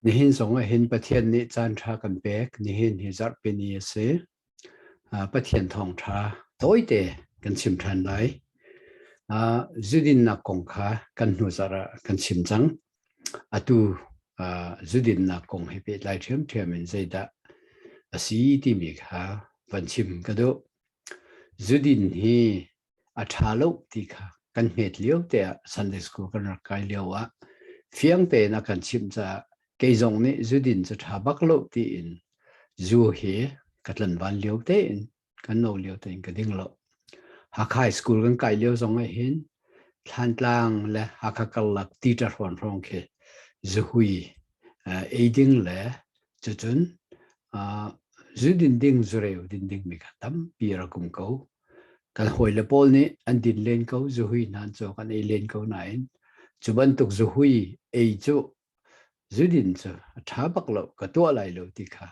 Nihin zong ahhin Pathian nih caanṭha kan pek. Nihin hi zarhpini a si. Pathian thawngṭha tawite kan chim ṭhan lai. Zudinnak kong kha kan hnu zarah kan chim cang. Atu zudinnak kong he pehtlai ṭhiamṭhiam in zeidah a si timi kha van chim ka duh. Zudin hi a ṭha lo ti kha kan hmet lio te ah Sunday school kan rak kai lio ah fiang tein a kan chimh caah kei zong nih zudin cu ṭha bak lo tiin zu hi ka tlan van lio tein kan no lio tein ka ding lo Hakha school kan kai lio zong ah hin Thlantlang le Hakha karlak ti ṭahruan hrawng khi zuhui eiding le cucun zudin ding zureu din ding mi kha tampi ra kum ko Kan hawile pawl nih an din len ko zuhui hnan cu kan ei len ko nain cu bantuk zuhui ei cu zudin cu a ṭha bak lo ka tuah lai lo ti kha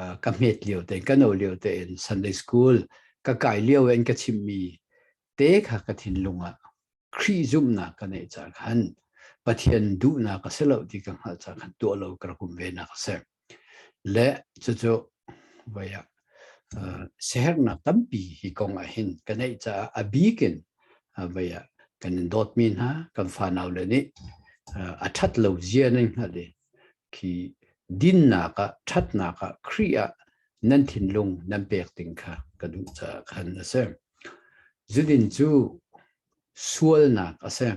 uh, ka hmet lio tein ka no lio tein Sunday school ka kai lio in ka chimmi te kha ka thinlung ah Khrih zumhnak ka neih ca khan Pathian duhnak a si lo ti ka hngalh ca khan tuah lo ka rak um ve nak a si. Le cucu voi ah siherhnak tampi hi kong ah hin ka neih caah a bik in voi ah kan in dawtmi hna kan fanau le nih a ṭhat lo zia nan hngalh i khi dinnak ah ṭhatnak ah Khrih ah nan thinlung nan pek ding kha ka duh caah khan a si. Zudin cu sualnak a si.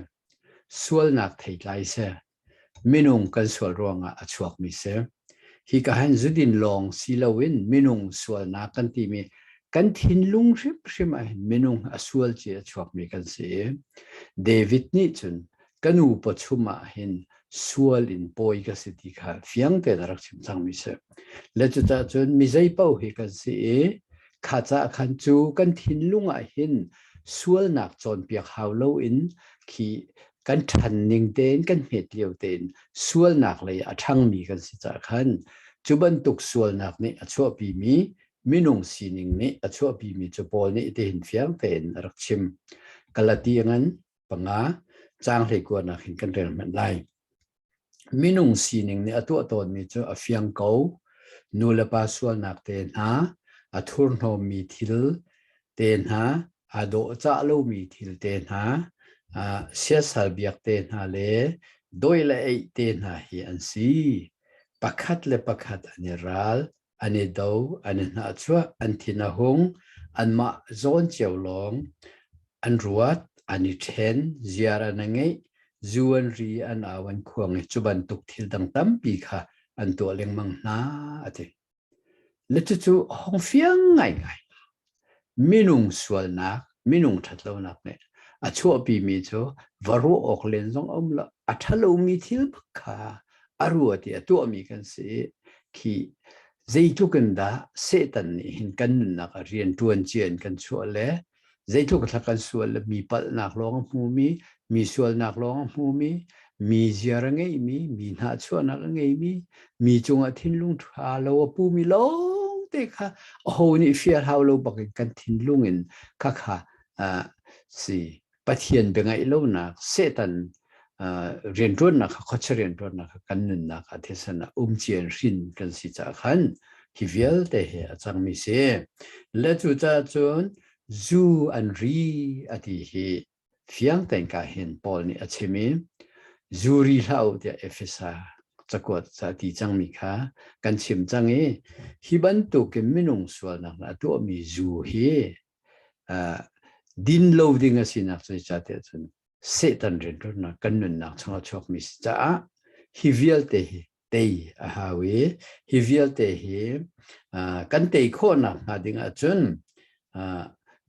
Sualnak theitlai si. Minung kan sual ruangah a chuakmi si. Hi ka han zudin lawng si loin minung sualnak kan timi kan thinlung hrimhrim ahhin minung a sual ci a chuakmi kan si i David nih cun ka nu pa chungah hin sual in pawi ka si ti kha fiang tein a rak chim cangmi si. Le cucah cun mi zeipaoh hi kan si i kha caah khan cu kan thinlung ahhin sualnak cawnpiak hau loin khi kan ṭhan ning tein kan hmet lio tein sualnak lei a ṭhangmi kan si caah khan cu bantuk sualnak nih a chuahpimi minung sining nih a chuahpimi cu Paul nih tihin fiang tein a rak chim. Galatian panga, caang hleikuanak hin kan rel hmanh lai. minung sining nih a tuah tawnmi cu a fiang ko. Nulepa sualnak te hna, a thurhnawmmi thil te hna, a dawhcah lomi thil te hna, siasal biak te hna le dawi le eih te hna hi an si. Pakhat le pakhat an i ral. an i do an i hnahchuah an thin a hung anmah zawn cio lawng an ruat an i ṭhen ziar an ngeih zu an ri an au an khuang i cu bantuk thil dang tampi kha an tuah lengmang hna a ti le cucu hong fiang ngaingai Minung sualnak, minung ṭhatlonak nih a chuahpimi cu va ruah awk len zong a um lo. A ṭhalomi thil kha a ruat i a tuahmi kan si i khi zeitluk in dah Satan nih hin kan nunnak ah rian ṭuan cia in kan chuah le zeitluk dah kan sual le mi palhnak lawng a hmumi mi sualnak lawng a hmumi, mi ziar a ngeimi, mi hnahchuahnak a ngeimi, mi cungah thinlung ṭha lo a pumi lawngte kha aho nih fia hlau lo bakin kan thinlung in khakha uh, si Pathian biangaih lonak Satan uh, rianṭuannak kha khocha rianṭuannak kha kan nunnak a thisen ah umcian hrin kan si caah khan hi vialte he a cangmi si. Le cu cahcun zu an ri a ti hi fiang tein ka hin Paul nih a chim i zuri hlah u tiah Efesa cakuat ti cangmi kha kan chim cang i hi bantukin minung sualnak a tuahmi zu hi din lo ding a sinak zeicahtiah cun Satan rianṭuannak kan nunnak changah chuakmi si caah hi vialte hi tei a hau i hi vialte hi kan tei khawhnak hnga ding ahcun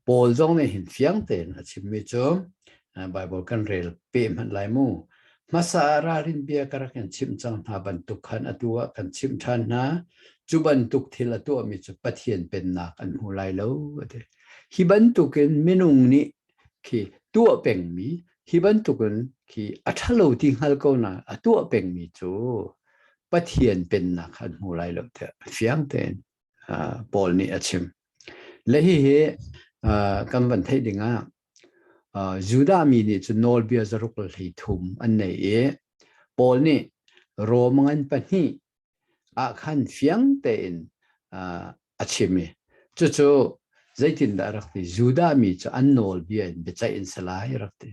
Paul zong nih hin fiang tein a chimmi cu Baibal kan rel pe hmanh lai mu. Hmasa ah ralrin bia ka rak in chimh cang hna bantuk khan atu ah kan chimh ṭhan hna. Cu bantuk thil a tuahmi cu Pathian pennak an hmu lai lo, a ti. Hi bantukin minung nih khi tuah pengmi hi bantukin khi a ṭhalo ti hngal ko nain a tuah pengmi cu Pathian pennak kha an hmu lai lo tiah fiang tein uh, Paul nih a chim. Le hihi uh, kan van theih dingah uh, Judah mi nih cun nawlbia zaruk hlei thum an nei i Paul nih Rom ngan pahnih ah khan fiang tein a chim i cucu zeitindah rak ti Judah mi cu an nawlbia in biaceih an si lai rak ti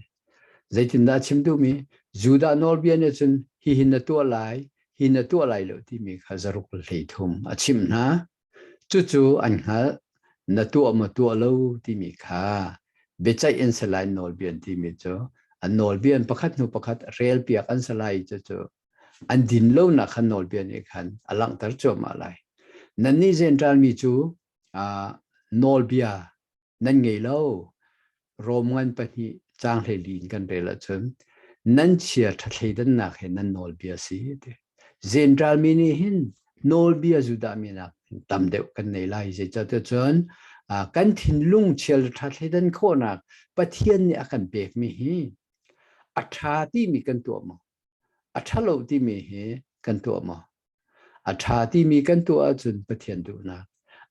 zeitindah chim duhmi Judah nawlbia nih cun hihin na tuah lai hi na tuah lai lo timi kha zaruk hlei thum a chim hna cucu an hngalh na tuah maw tuah lo timi kha biaceih an si lai nawlbia timi cu an nawlbia pakhat hnu pakhat relpiak an si lai cucu an din lonak khan nawlbia nih khan a langhter cuahmah lai. Nannih zenṭalmi cu nawlbia nan ngei lo. Rom ngan pahnih caang hleli in kan rel ahcun nan chia ṭha thleidannak he nan nawlbia si a ti. Zenṭalmi nih hin nawlbia zudahminak tam deuh kan nei lai. Zeicahtiah cun kan thinlung chia le ṭha thleidan khawhnak Pathian nih a kan pekmi hi a ṭha timi kan tuah maw? A ṭhalo timi hi kan tuah maw? A ṭha timi kan tuah ahcun Pathian duhnak,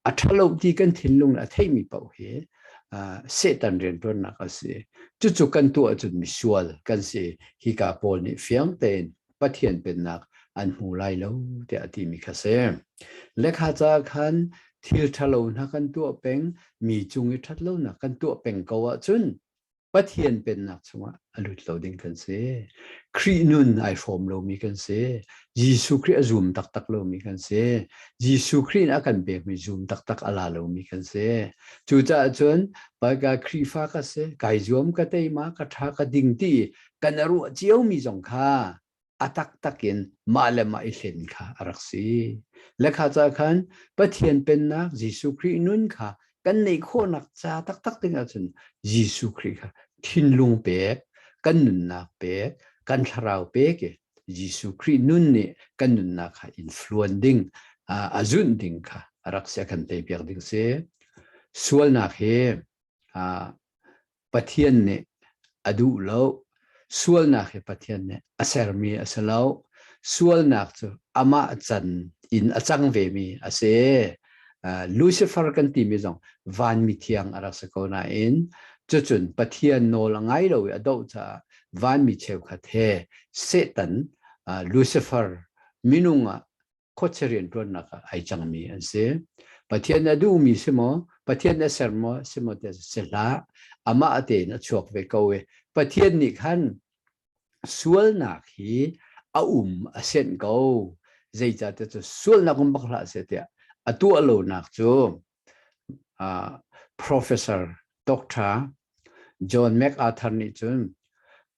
a ṭhalo ti kan thinlung le a theimi paoh hi uh, Satan rianṭuannak a si. Cucu kan tuah ahcun misual kan si. Hi ka pawl nih fiang tein Pathian pennak an hmu lai lo tiah a timi kha si. Lekha ca khan thil ṭhalo hna kan tuah peng, mi cung i ṭhatlonak kan tuah peng ko ahcun Pathian pennak chungah a lut lo ding kan si. Khrih nun ai hrawm lomi kan si. Jesuh Khrih a zum taktak lomi kan si. Jesuh Khrih in a kan pekmi zum taktak a la lomi kan si. Cucaah cun Baika Khrihfa ka si, kai zuam ka teima, ka tha ka ding ti kan a ruah ciomi zong kha a taktak in mah le mah i hlen kha a rak si. Le kha ca khan Pathian pennak Jesuh Khrih nun kha kan neih khawhnak ca taktak dingah cun Jesuh Khrih kha thinlung pek, kan nunnak pek, kan thlarau pek i Jesuh Khrih nun nih kan nunnak kha influence ding a zunh ding kha a rak sia kan tei piak ding si. Sualnak hi Pathian nih a duh lo. Sualnak hi Pathian nih a sermi a si lo. Sualnak cu amah can in a cang vemi a si. Uh, Lucifer kan timi zong vanmi thiang a rak si ko nain cucun Pathian nawl a ngai lo i a doh caah vanmi cheukhat he Satan, uh, Lucifer minung ah khuachia rianṭuannak ah ai cangmi an si. Pathian a duhmi si maw, Pathian a ser maw, si maw ti si hlah, amah tein a chuak ve ko i Pathian nih khan sualnak hi a um a senh ko. Zeicahtiah cu sualnak um bak hlah seh tiah a tuah lonak cu professor doctor John MacArthur nih cun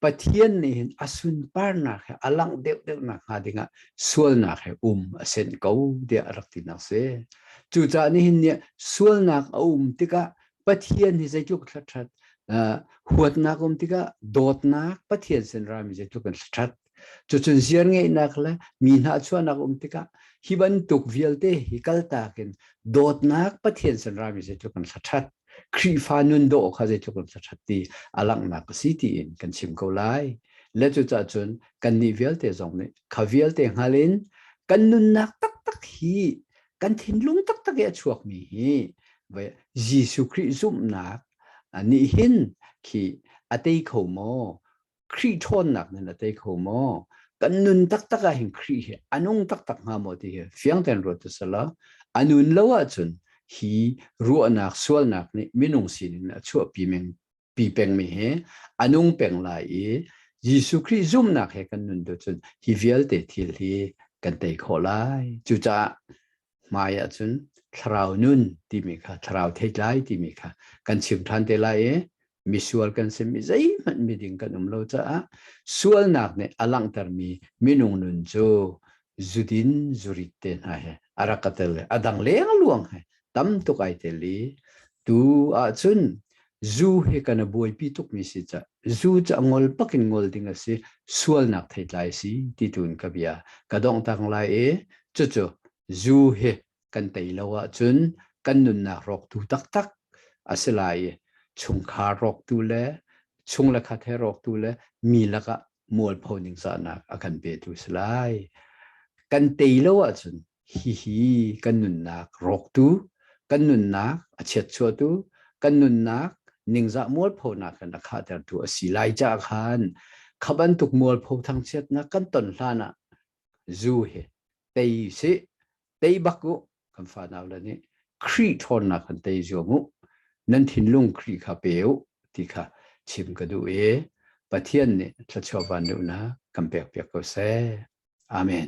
Pathian nih hin a sunparnak he a langh deuhdeuhnak hnga dingah sualnak he um a senh ko tiah a rak tinak si. Cucaah nihin nih sualnak a um tikah Pathian hi zeitluk hlathat huatnak um tikah dawtnak Pathian sin rami zeitluk in hlathat Cucun ziarngeihnak le mi hnahchuahnak um tikah hi bantuk vialte hi kaltak in dawtnak Pathian san rami zeitluk kan thlaṭhat Khrihfa nun dawh kha zeitluk kan thlaṭhat ti a langhnak a si tiin kan chim ko lai. Le cucah cun kannih vialte zong nih kha vialte hngal in kan nunnak taktak hi kan thinlung taktak i a chuakmi hi Jesuh Khrih zumhnak nih hin khi a tei kho maw? Khrih ṭhawnnak nan a tei kho maw? Kan nun taktak ah hin Khrih hi a nung taktak hnga maw ti hi fiang tein ruat ti sala a nun lo ahcun hi ruahnak sualnak nih minung sin in a chuahpi meng pi peng mi hi a nung peng lai i Jesuh Khrih zumnak he kan nun tu cun hi vialte thil hi kan tei khawh lai. Cucaah hmaiah cun thlarau nun timi kha thlarau theitlai timi kha kan chim ṭhan te lai i misual kan simi zeihmanh miding kan um lo caah sualnak nih a langhtermi minung nun cu zudin zurit te hna he a rak ka tel a dang leng luang he tam tuk ai tel i tu ahcun Zu hi kan a buaipi tukmi si cah zu cu a ngol pakin ngol ding a si sualnak theitlai si ti tu in ka bia ka dong tang lai e cucu zu hi kan tei lo ahcun kan nunnak rawktu taktak a si lai i chungkhar rawktu le chung le khat he rawktu le mi lakah mualpho ning cahnak a kan petu si lai. Kan tei lo ahcun hihi kan nunnak rawktu, kan nunnak a chiatchuatu, kan nunnak ningzah mualphonak kan a khahtertu a si lai caah khan kha bantuk mualpho thangchiatnak kan ton hlan ah zu hi tei sih tei bak u kan fa nau le nih Khrih ṭhawnnak kan tei zuam u nan thinlung Khrih kha pe u ti kha chim ka duh i Pathian nih thluachuah van duhnak kan pekpiak ko seh. Amen.